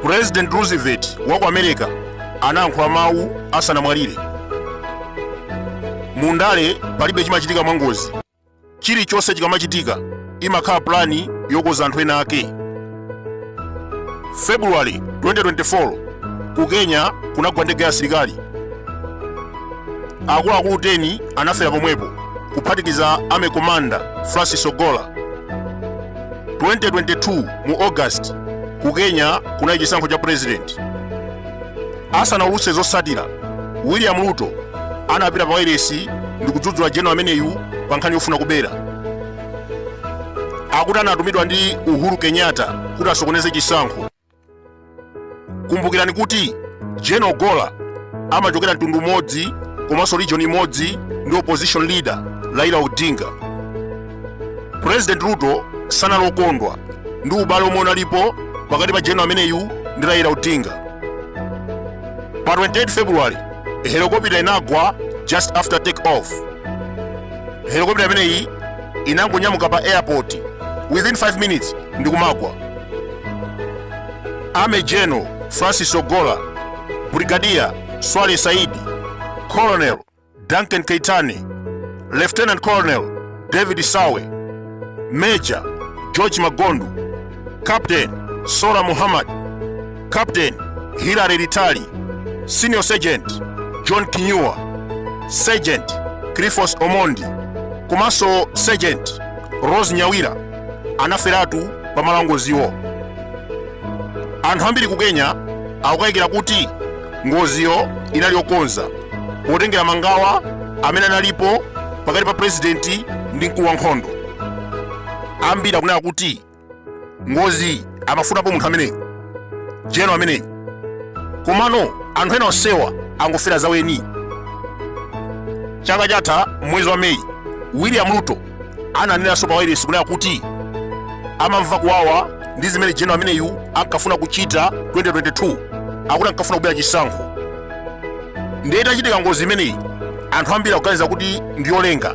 president roosevelt wa ku america anayankhula mawu asanamwalire mu ndale palibe chimachitika mwangozi chilichonse chikamachitika imakhala pulani yokoza anthu ena ake february 2024 ku kenya kunagwa ndege ya asilikali akuluakulu 10 anafera pomwepo kuphatikiza army commander francis ogola 2022 mu august ku kenya kunali chisankho cha purezidenti Asanaulutse zotsatira, William Ruto anapita pa wailesi ndi kudzudzula general ameneyu pa nkhani yofuna kubera. Akuti anatumidwa ndi Uhuru Kenyatta kuti asokoneze chisankho. Kumbukirani kuti General Ogola amachokera mtundu umodzi komanso region imodzi ndi opposition leader Raila Odinga. president ruto sanali okondwa ndi ubale omwe unalipo pakati pa general ameneyu ndi raila odinga pa 28 february helikopita inagwa just after take off helikopita imeneyi inangonyamuka pa airport within 5 minutes ndi kumagwa army general francis ogola brigadier swale saidi colonel Duncan Keitani, Lieutenant Colonel David Sawe, Major George Magondu, Captain Sora Muhammad, Captain Hilary Ritali, Senior Sergeant John Kinyua, Sergeant Cliffos Omondi, komanso Sergeant Rose Nyawira anaferatu pa malo angoziwo. anthu ambiri ku kenya akukayikira kuti ngoziyo inali yokonza potengera mangawa amene analipo pakati pa purezidenti ndi mkulu wa nkhondo ambiri akunena kuti ngozi amafunapo munthu ameneyu general ameneyu komano anthu ena onsewa angofera zaweni chaka chatha mwezi wa meyi william ruto ananenanso pa wailesi kunena kuti amamva kuwawa ndi zimene general ameneyu ankafuna kuchita 2022 akuti ankafuna kubera chisankho ndiye itachitika ngozi imeneyi anthu ambiri akuganiza kuti ndi yolenga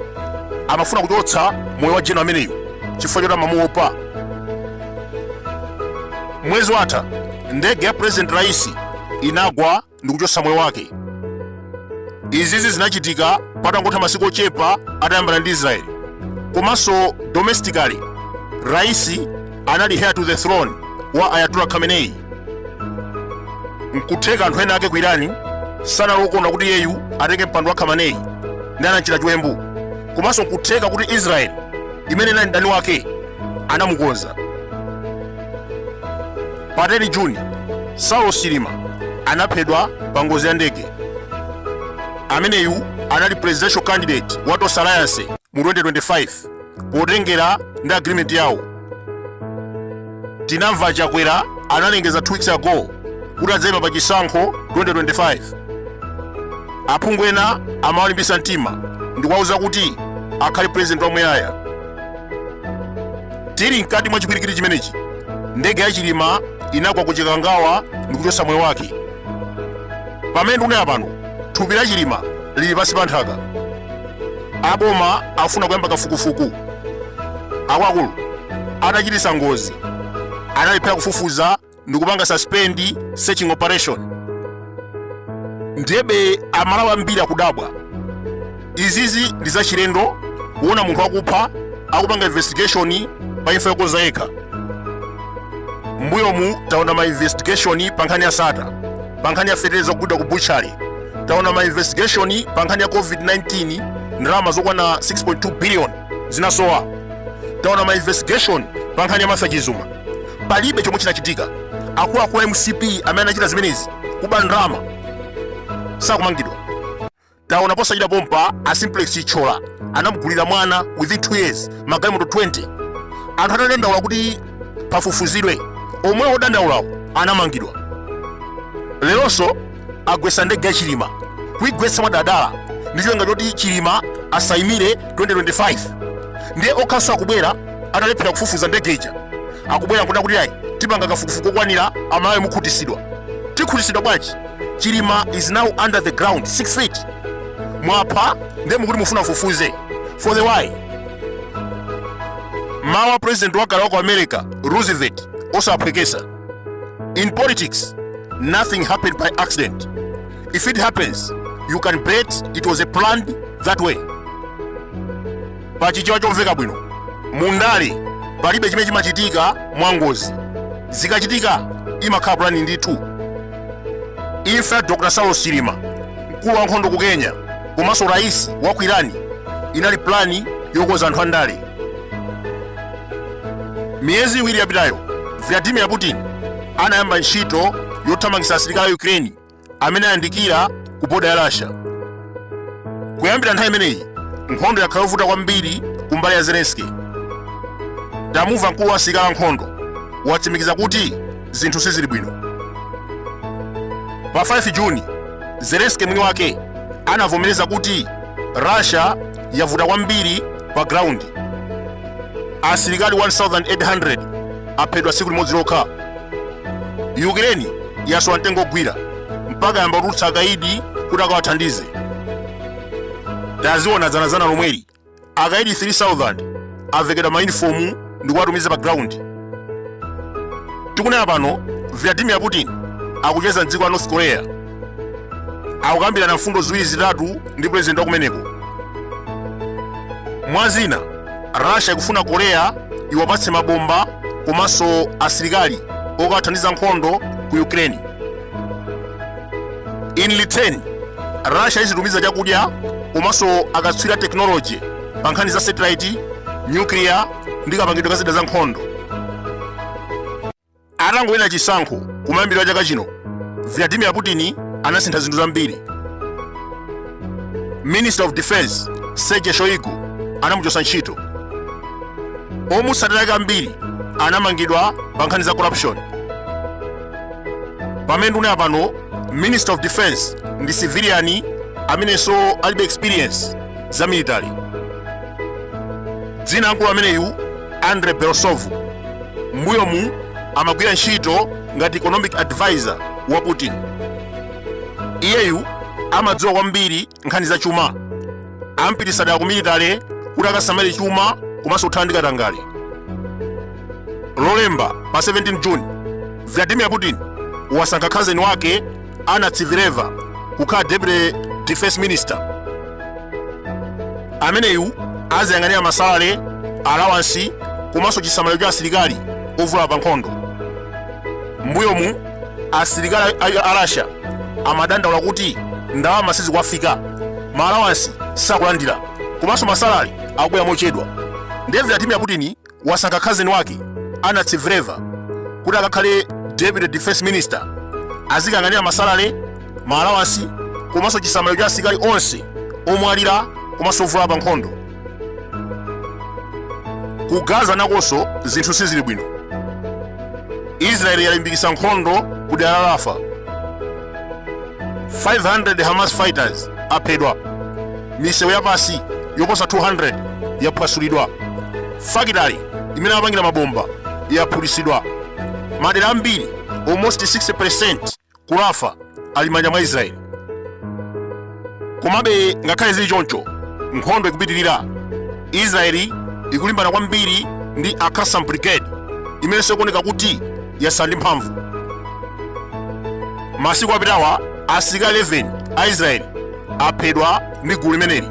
amafuna kuchotsa moyo wa general ameneyu chifukwa choti amamuopa mwezi watha ndege ya president raisi inagwa ndi kuchotsa moyo wake izizi zinachitika patangotha masiku ochepa atayambana ndi israeli komanso domestically raisi anali heir to the throne wa ayatollah khamenei nkutheka anthu ena ake ku irani sanali okondwa kuti iyeyu atenge mpando wa khamenei ndi anamchita chiwembu komanso nkutheka kuti israeli imene inali mdani wake anamukonza Pa 10 June, Saulos Chilima anaphedwa pa ngozi ya ndege. Ameneyu anali presidential candidate wa Tonse Alliance mu 2025 potengera ndi agreement yawo. Tinamva a Chakwera analengeza 2 weeks ago kuti adzayima pa chisankho 2025. Aphungu ena amawalimbisa mtima ndikuwauza kuti akhale president wamuyaya. tili mkati mwa chipwirikiti chimenechi ndege ya chilima inagwa ku chikangawa ndikuchotsa moyo wake pamene ndikunena pano thupi la chilima lili pansi pa nthaka aboma afuna kuyamba kafukufuku akuluakulu anachititsa ngozi analephera kufufuza ndikupanga suspend searching operation ndiyebe amalawi ambiri akudabwa izizi ndi zachilendo kuona munthu wakupha akupanga investigation pa imfa yokonza yekha mbuyomu taona ma investigation pa nkhani ya sata pa nkhani ya feteleza kugwidwa ku butchery taona ma investigation pa nkhani ya covid-19 ndalama zokwana 6.2 billion zinasowa taona ma investigation pa nkhani ya Martha Chizuma palibe chomwe chinachitika akuluakulu a mcp amene anachita zimenezi kuba ndalama sakumangidwa taona posachedwa pompa a simplex chithyola anamugulira mwana within 2 years magalimoto 20 anthu atadandaula kuti pafufuzidwe omwe odandaulawo anamangidwa leronso agwetsa ndege ya chilima kuigwetsa mwadaladala ndi cholinga choti chilima asaimire 2025 ndiye okhanso akubwera atalephera kufufuza ndege ija akubwera nkunena kuti ayi tipanga kafukufuku okwanira amalawi mukhutitsidwa tikhutitsidwa bwanji chilima is now under the ground 6 feet mwapha ndiye mukuti mufuna mfufuze for the why mawu a president wakale wa ku america roosevelt osaphweketsa In politics, nothing happened by accident. If it happens, you can bet it was a planned that way. Pachichewa chomveka bwino, mundale palibe chimene chimachitika mwangozi. Zikachitika imakhala plani ndithu. Imfa ya Dr. Saulos Chilima, mkulu wa nkhondo ku Kenya, komanso rais wa ku Irani inali plani yokonza anthu andale. Miyezi iwiri yapitayo, Vladimir Putin anayamba ntchito yothamangitsa asilikali a Ukraine amene ayandikira ku boda ya Russia. Kuyambira nthawi imeneyi, nkhondo yakhala yovuta kwambiri ku mbali ya Zelensky. Tamumva mkulu wa asilikali ankhondo watsimikiza kuti zinthu sizili bwino. Pa 5 Juni, Zelensky mwini wake anavomereza kuti Russia yavuta kwambiri pa ground asilikali 1800 aphedwa tsiku limodzi lokha ukraine yasowa mtengo ogwira mpaka yamba kutulutsa akaidi kuti akawathandize taziona dzanadzana lomweli akaidi 3000 avekedwa mayunifomu ndikuwatumiza pa ground tikunena pano vladimir putin akucheza mdziko la north korea akukambirana mfundo ziwiri zitatu ndi president wa kumeneko mwa zina russia ikufuna korea iwapatse mabomba komanso asilikali okathandiza nkhondo ku ukraine in return russia izitumiza chakudya komanso akatswiri a technology pa nkhani za satellite nyukliya ndi kapangidwe ka zida za nkhondo atangowina chisankho kumayambiriro a chaka chino vladimir putin anasintha zinthu zambiri minister of defense sergei shoigu anamuchosa ntchito omutsatira ake ambiri anamangidwa pa nkhani za corruption pamene tikunena pano minister of defense ndi civilian amenenso alibe experience za military dzina la mkulu ameneyu andrei belousov mbuyomu amagwira ntchito ngati economic advisor wa putin iyeyu amadziwa kwambiri nkhani za chuma ampititsa dala ku military kuti akasamale chuma komanso kuthana ndi katangale lolemba pa 17 june vladimir putin wasankha khazeni wake anna tsivileva kukhala deputy defense minister ameneyu aziyang'anira masalale alawansi komanso chisamaliro cha asilikali ovulala pa nkhondo mbuyomu asilikali a- a rasha amadandaula kuti ndalama sizikuwafika ma alawansi sakulandira komanso masalale akubwera mochedwa nde vladimir putin wasankha cousin wake Anna Tsivileva kuti akakhale deputy defense minister azikayang'anira masalale ma allowance komanso chisamaliro cha asilikali onse omwalira komanso ovulala pa nkhondo ku gaza nakonso zinthu sizili bwino israeli yalimbikisa nkhondo ku dera la rafah 500 hamas fighters aphedwa misewu yapansi yoposa 200 yaphwasulidwa fakitali imene amapangira mabomba yaphulitsidwa madera ambiri almost 60% ku rafah ali m'manja mwa israeli komabe ngakhale zili choncho nkhondo ikupitirira israeli ikulimbana kwambiri ndi al-qassam brigade imenenso ikuoneka kuti yasowa ndi mphamvu masiku apitawa asilikali 11 a israeli aphedwa ndi gulu limeneli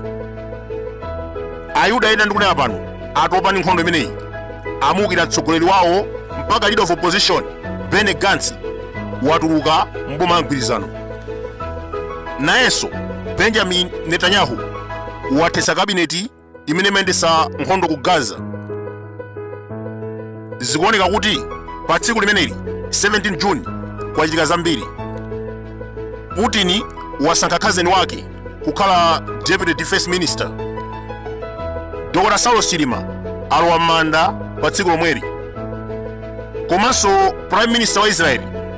ayuda ena ndikunena pano atopa ndi nkhondo imeneyi amuukira mtsogoleri wawo mpaka leader of opposition benny gantz watuluka m'boma la mgwirizano nayenso benjamin netanyahu wathetsa kabineti imene imayendetsa nkhondo ku gaza zikuoneka kuti pa tsiku limeneli 17 june kwachitika zambiri putin wasankha cousin wake kukhala deputy defense minister dr saulos chilima alowa m'manda pa tsiku lomweli komanso prime minister wa israeli